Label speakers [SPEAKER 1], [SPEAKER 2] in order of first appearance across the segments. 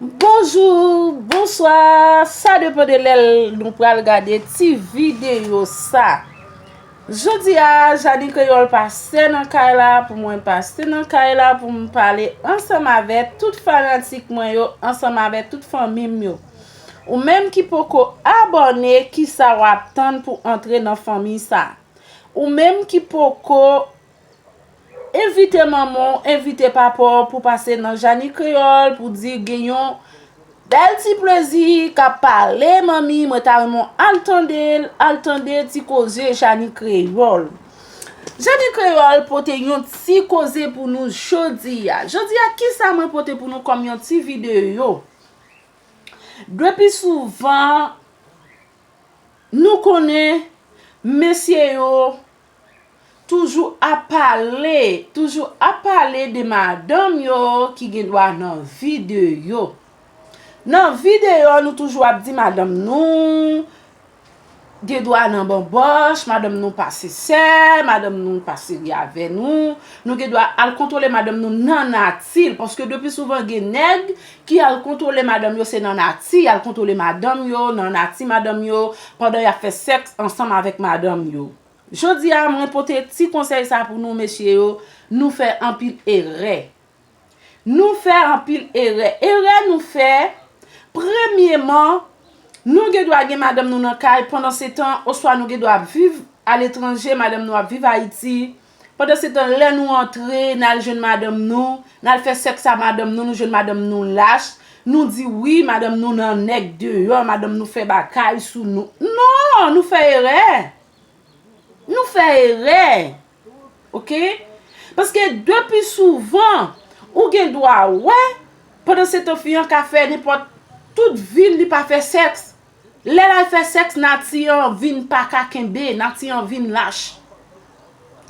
[SPEAKER 1] Bonjour bonswa sa depan de lè nou pral gade ti video sa jodia Jani kreyòl pase nan kay la pou mwen pase nan kay la pou m pale ansanm avè tout fanatik mwen yo ansanm avè tout fanmi m yo ou menm ki poko abòne kisa wap tann pou antre nan fanmi sa ou menm ki poko Envite manman w, envite papa w pou pase nan Jani Kreyòl pou di gen yon bèl ti plezi k ap pale manmi mwen ta renmen w al tande l, al tande ti koze Jani Kreyòl. Jani Kreyòl pote yon ti koze pou nou jodi a. Jodi a ki sa mwen pote pou nou kòm yon ti videyo? Depi souvan nou konnen mesye yo Toujou ap pale, toujou ap pale de madanm yo ki gen dwa nan vi de yo. Nan vi de yo nou toujou ap di madanm nou gen dwa nan banboch, madanm nou pa sensè, madanm nou pa serye avè nou, nou gen dwa al kontwole madanm nou nan nati l paske de pi souvan gen nèg Ki al kontwole madanm yo se nan nati yal kontwole madanm yo, nan nati madanm yo, pandan yap fè sèks ansanm avèk madanm yo. Jodi a mwen pote ti konsèy sa pou nou mesye yo, nou fè anpil erè. Nou fè anpil erè. Erè nou fè, premyeman, nou gen dwa gen madanm nou nan kay pandan se tan, oswa nou gen dwa ap viv aletranje, madanm nou ap viv Ayiti, Pandansetan, lè nou antre, n al jwenn madanm nou, n al fè sèks a madanm nou, nou jwenn madanm nou lach, nou di wi, madanm nou nan nèg deyò, madanm nou fè bagay sou nou. Non! Nou fè erè! Nou fè erè! Ok? Paske de pi souvan, ou gen dwa wè, pandansetan fi an ka fè nenpòt, tout vi l li pa fè sèks. Lè lal fè sèks nati an vin paka kenbe nati an vin lach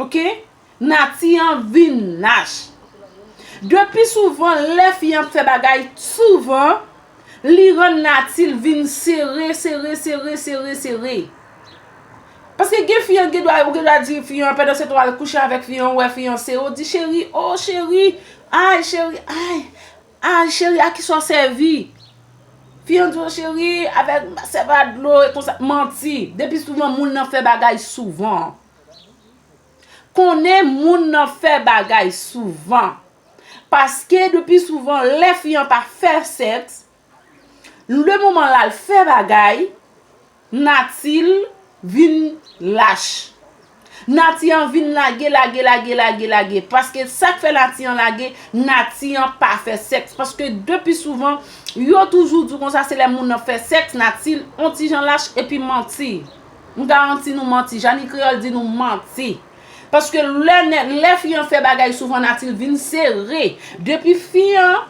[SPEAKER 1] ok nati an vin lach de pi souvan lè fi an ap fè bagay t souvan li rann natil vin sere sere sere sere sere paske gen fi an gen dwa ou gen dwa di fi an pandan se tan wal kouche avèk fi an ou wè fi an sere ou di cheri oo cheri ayy cheri ayy. Ah cheri a kisa w sèvi? Fi an di w cheri avèk m sèvi a dlo e konsa manti depi souvan moun nan fè bagay souvan konnen moun nan fè bagay souvan paske depi souvan lè fi an pa fè sèks le moman l al fè bagay Nati l vin lach. Nati an vin lage, lage, lage, lage, lage. Paske sa k fè nati an lage, nati an pa fè sèks. Paske de pi souvan, yo toujou di w konsa se lè moun nan fè sèks, nati l on ti jan lach epi manti. M garanti nou manti. Janny Creole di nou manti. Paske lè nè, lè fi an fè bagay souvan nati l vin sere. De pi fi an.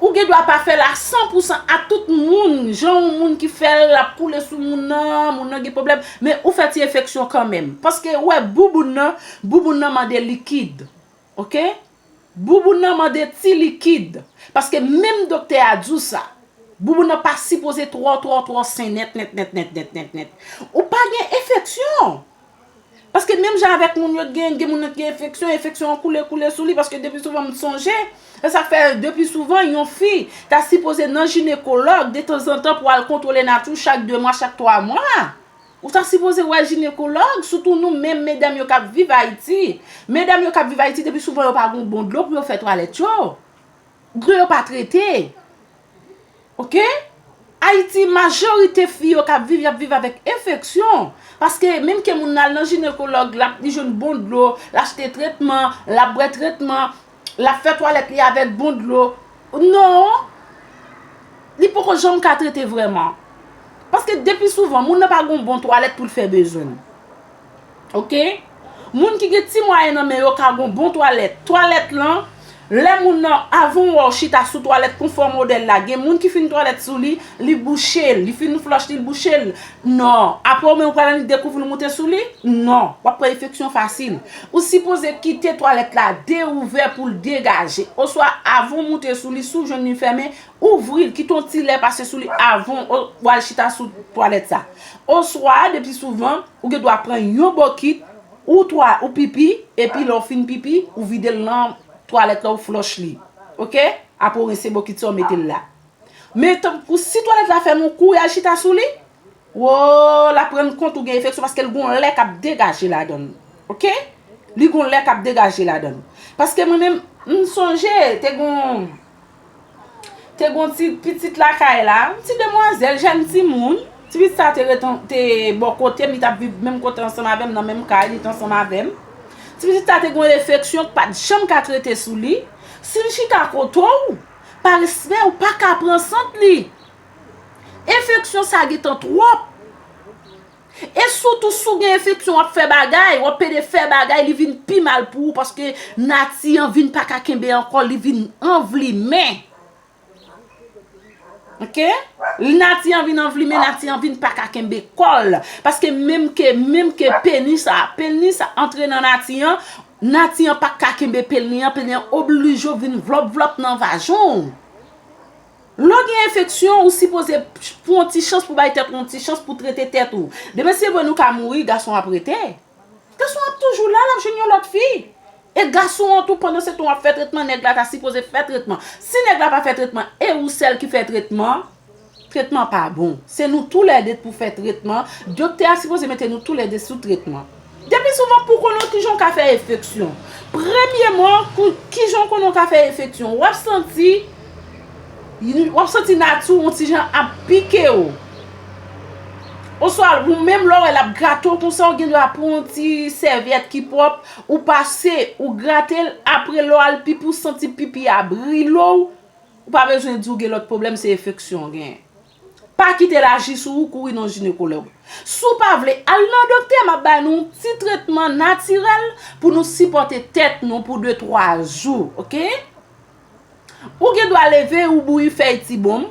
[SPEAKER 1] Ou gen dwa pa fè l a san pou san ak tout moun, jan yon moun ki fè l l ap koule sou moun nan, moun nan gen pwoblèm, men ou fè ti enfeksyon kanmenm. Paske ou wè bouboun nan, bouboun nan mande likid. Ok. Bouboun nan mande ti likid. Paske menm doktè a di w sa. Bouboun nan pa sipoze twò twò twò sen nèt nèt nèt nèt nèt nèt nèt. Ou pa gen enfeksyon! Paske menm jan avèk moun yo t gen, gen moun nan t gen enfeksyon, enfeksyon an koule koule sou li paske depi souvan m sonje, se sak fè depi souvan yon fi ta sipoze nan jinekològ detanzantan pou al kontwole nati w chak 2 mwa, chak 3 mwa. Ou ta sipoze wè jinekològ, sitou nou menm medam yo k ap viv Ayiti. Medam yo k ap viv Ayiti depi souvan yo pa gen yon bon dlo pou yo fè twalèt yo. Dlo yo pa trete. Ok Ayiti majorite fi yo kap viv yap viv avèk enfeksyon paske menm ke moun nan al nan jinekològ lap li jwenn bon dlo l achte tretman lap bwè tretman lap fè twalèt li avèk bon dlo non li poko janm ka trete vrèman paske depi souvan moun nan pa gon bon twalèt pou l fè bezwen l. Ok Moun ki gen ti mwayen nan men yo ka gon bon twalèt Twalèt lan Lè moun nan Avan w wè w chita sou twalèt konfò modèl la gen moun ki fin twalèt sou li Li bouche l Li fin flòch li l bouche l Non Apre ou menm ou pral annik dekouvri l moute sou li Non W ap pran enfeksyon fasil Ou sipoze kite twalèt la deouvè pou l degaje Oswa avan w moute sou li si w jwenn li fèmen Ouvri l, kite yon ti lè pase sou li avan w al chita sou twalèt sa. Oswa, depi souvan, ou gen dwa pran yon bokit, ou twa, ou pipi, epi lè w fin pipi, ou vide l nan twalèt la, ou flòch li. Ok? Apre w rense bokit sa, w mete l la. Men, tanpri, si twalèt la fèmen, w kouri al chita sou li. Woo lap rann kont ou gen efeksyon paske l gon lè kap degaje ladann ok li gon lè kap degaje ladann paske mwen menm m sonje te gon te gon ti pitit lakay la yon ti demwazèl jèn timoun ti pitit sa te ret te bò kotem li tap viv menm kote ansanm avèm nan menm kay li t ansanm avèm ti pitit sa te gon efeksyon k pat janm ka trete sou li si l chita kote w pa respè ou paka pran sant li. Enfeksyon sa gentan twòp. E sou tou sou gen enfeksyon wap fè bagay, wap pede fè bagay li vin pi mal pou ou paske nati an vin paka kenbe ankò li vin anvlimen. Ok? Nati an vin anvlimen, nati an vin paka kenbe kòl. Paske menm ke, menm ke peni sa, peni sa antre nan nati an, nati an paka kenbe peni an, peni an oblije vin vlòp vlòp nan vajan ou. Lè w gen enfeksyon, ou sipoze pran yon ti chans pou bay tèt ou yon ti chans pou trete tèt ou. Demen se vre nou ka mouri, gason ap rete. Gason ap toujou la, l ap jwenn yon lòt fi. E gason an tou pandan se tan w ap fè tretman, nèg la ta sipoze fè tretman. Si nèg la pa fè tretman e ou sèl ki fè tretman, tretman pa bon. Se nou tou lè de pou fè tretman, doktè a sipoze mete nou tou lè de sou tretman. Depi souvan pou konnen w kijan w ka fè efeksyon. Premyeman, kijan w konnen w ka fè efeksyon. Wap santi, wap santi nati w yon ti jan ap pike w. Oswa ou menm lè w wè lap grate w konsa w gen dwa pran yon ti sèvyèt ki pwòp, ou pase, ou grate l, apre lè w al pipi ou santi pipi a brile w, ou pa bezwen di w gen lòt pwoblèm se efeksyon w genyen. Pa kite l aji sou ou kouri nan jinekològ. Si w pa vle al nan doktè m ap bay nou yon ti tretman natirèl pou nou sipòte tèt nou pou de twa jou ok. Ou gen dwa leve ou bouyi fèy ti bonm,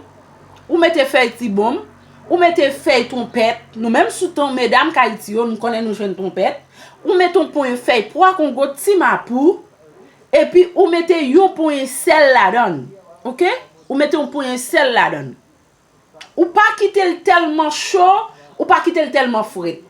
[SPEAKER 1] ou mete fèy ti bonm, ou mete fèy twonpèt, nou menm sou ton medam kayiti yo nou konnen nou jwenn twonpèt, ou mete yon ponyen fèy pwa kongo ti mapou epi ou mete yon ponyen sèl ladan l ok. Ou mete yon ponyen sèl ladan l. Ou pa kite l tèlman cho, ou pa kite l tèlman fret.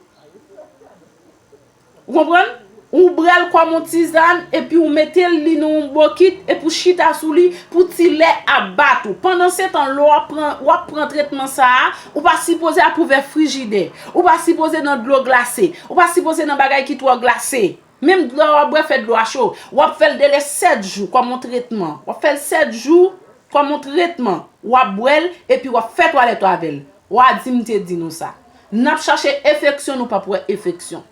[SPEAKER 1] Ou konprann? Ou ouvre l kòm yon tizann epi ou mete l li nan yon bokit epi ou chita sou li pou ti lè a bat ou. Pandansetan lè w ap pran, w ap pran tretman sa a, ou pa sipoze ap ouvè frijidè. Ou pa sipoze nan dlo glase. Ou pa sipoze nan bagay ki twò glase. Menm dlo a wap bwè fè dlo a cho. Wap fèl dele 7 jou kòm yon tretman. Wap fèl 7 jou kòm yon tretman. Wap bwèl epi wap fè twalèt ou avèl. Wa di m te di nou sa. Nap chache efeksyon nou pap wè efeksyon.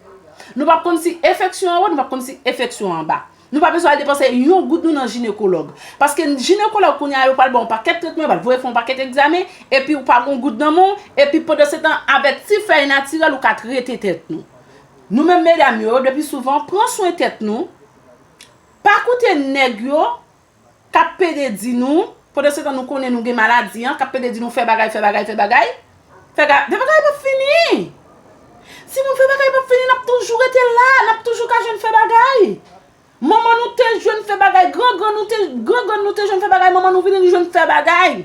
[SPEAKER 1] Nou pap konn si efeksyon anwo nou pap konn si efeksyon anba. Nou pa bezwen al depanse yon goud nou nan jinekològ. Paske jinekològ kounye a yo pral baw pakèt tretman yo pral voye fè yon pakèt egzamen epi ou pa gon goud nan men w epi pandansetan avèk ti fèy natirèl ou ka trete tèt nou. Nou menm medam yo depi souvan pran swen tèt nou pa koute nèg yo kap pede di nou pandansetan nou konnen nou gen maladi an kap pede di nou fè bagay fè bagay fè bagay fè bagay bagay pap fini si nou fè bagay pap fini nap toujou rete la nap toujou ka jwenn fè bagay Manman nou te jwenn fè bagay gran gran nou te gran gran nou te jwenn fè bagay manman nou vini nou jwenn fè bagay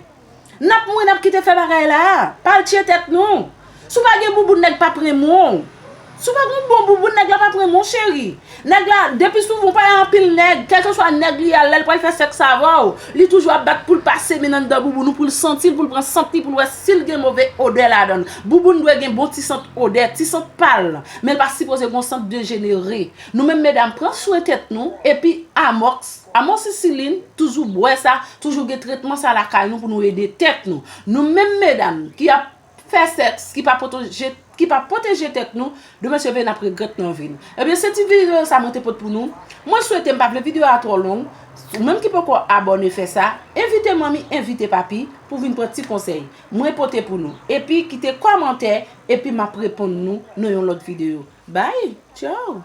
[SPEAKER 1] nap mouri nap kite fè bagay la pa al tye tèt nou si w pa gen bouboun nèg pap renmen w si w pa gen yon bon bouboun nèg la pap renmen w cheri nèg la depi sou ou pa gen anpil nèg kèlkeswa nèg li a lè l pral fè sèks avè w li toujou ap bat pou l pase men anndan bouboun ou pou l santi l pou l pran sant li pou l wè si l gen move odè ladan l bouboun dwe gen bon ti sant odè ti sant pa l men l pa sipoze gen yon sant dejenere Nou menm medam pran swen tèt nou epi amox, amoxicilline, toujou bwè sa, toujou gen tretman sa lakay nou pou nou ede tèt nou. Nou menm medam ki ap Fè sèks ki pa potoje ki pa pwoteje tèt nou demen seve nap regrèt nan vi nou. Ebyen se ti video sa mwen te pot pou nou. Mwen swete m pa vle video a twò long, ou menm ki poko abòne fè sa, envite manmi, envite papi pou vin pran ti konsèy mwen pote pou nou epi kite kòmantè epi map reponn nou nan yon lòt video. Bye Ciao.